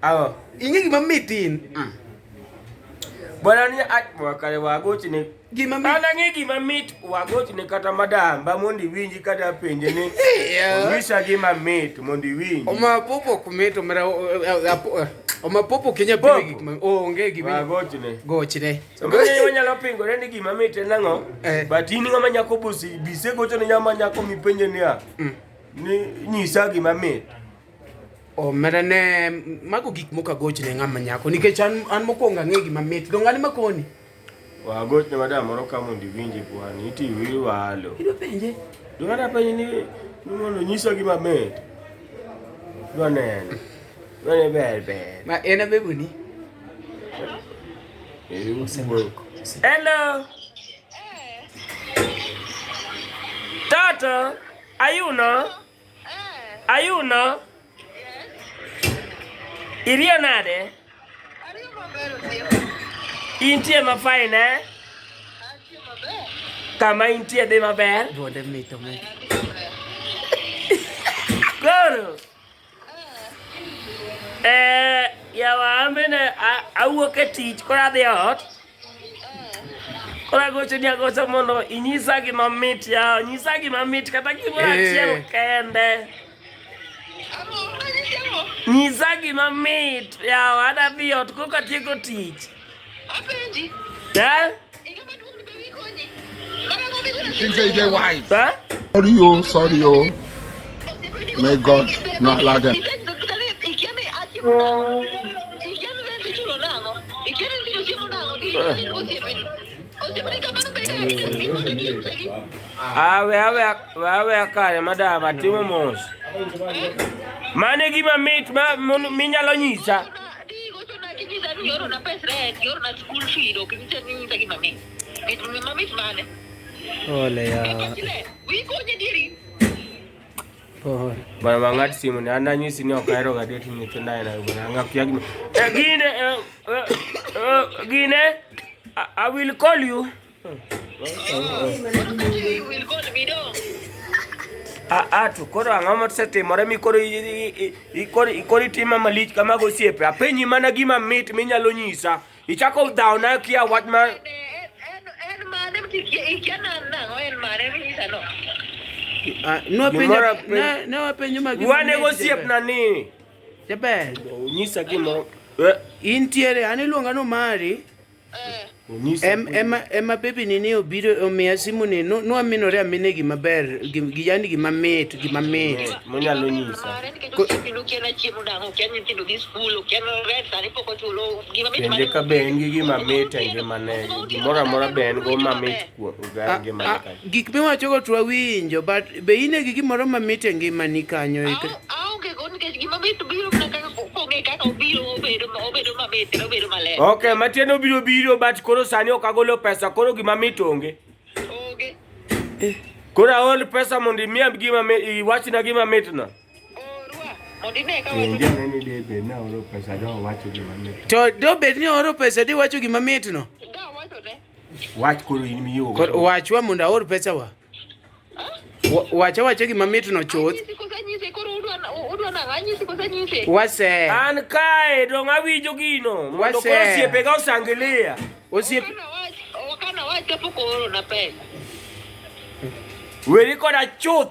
Ago, ing'e gima mit in? Mm. Bwana ni atwa kare wagoch ne gima mit. Ana ng'e gima mit wagoch ne kata madam ba mondi winji kata penje ni. Onyisa gima mit mondi winji. Oma popo kumit omera oma popo kinya pili gik ma onge gima. Wagoch ne. Goch ne. Samani wanyalo pingore ni gima mit en ang'o? Eh. But in ng'ama nyako busi bise gocho ne nyama nyako mipenje niya. Mm. Ni nyisa gima mit. omera ne mago gik moko agochne ng'ama nyako nikech an an mokwongo ang'e gima mit dong an ema koni wagochne madam moro ka mondo iwinje kwani iti iwalo idwa penje dwa na penje ni ni mondo nyisa gima mit dwa neno dwa ne ber ber ma en abeboni hello tata ayuno Ayuno. Iriyo nade? Intie ma fine eh? Kama intie dhi maber. Duonde mito me. Goro. Eh, yawa amene awuok e tich koro adhi ot. Ora goche ni agocha mondo inyisa gima mit ya, nyisa gima mit kata gimoro eh. achiel kende. Nyisa gima mit ya, ada bi ot koka tieko tich. Apenji. Eh? Huh? Sorry, yo, sorry, yo. May God not allow them. Awe awe awe akare madam atimo mos. Mane gima mit ma minyalo nyisa. Bana mang'ati simu ni ana nyisi ni okaero ga deti ni tunda ina bana ngapi yagi. Gine gine I will call you. Atu koro ang'o mosetimore mi koro ikoro itimo malich kamago osiepe apenyi mana gima mit minyalo nyisa Ichako dhawona kia wach ma nwapenjo wane gosiepna ni jaber onyisa gimoro eh. intiere an iluonga ni omari eh. ema bebi ni ni obiro omiya simu ni nwaminore amine gima ber yani gima mit gima mit eh, monyalo nyisa Penje ka be en gi gima mit e ngimane, gimoro amora be en go mamit kuom ah, ngimane ah, kanyo. Gik miwachogo to wawinjo, but be in e gi gimoro mamit e ngimani kanyo? Aonge go nikech gima mit biro mana kaka pong'e kaka obiro obedo obedo mamit kendo obedo maler. Okay, matiende obiro biro but koro sani ok agolo pesa, koro gima mit onge. Onge. Eh. Koro aol pesa mondo imiya gima iwachna gima mitno. To dobed ni oro pesa di wacho gima mitno. Wach koro in miyo. Wachwa mondo aor pesa wa. Wacha wacha gima mitno chuth. Wase. An kae dong awinjo gino. Mondo koro osiepe ga osangilia. Osiepe. Wakana wacha poko oro na pesa. Weri koda chuth.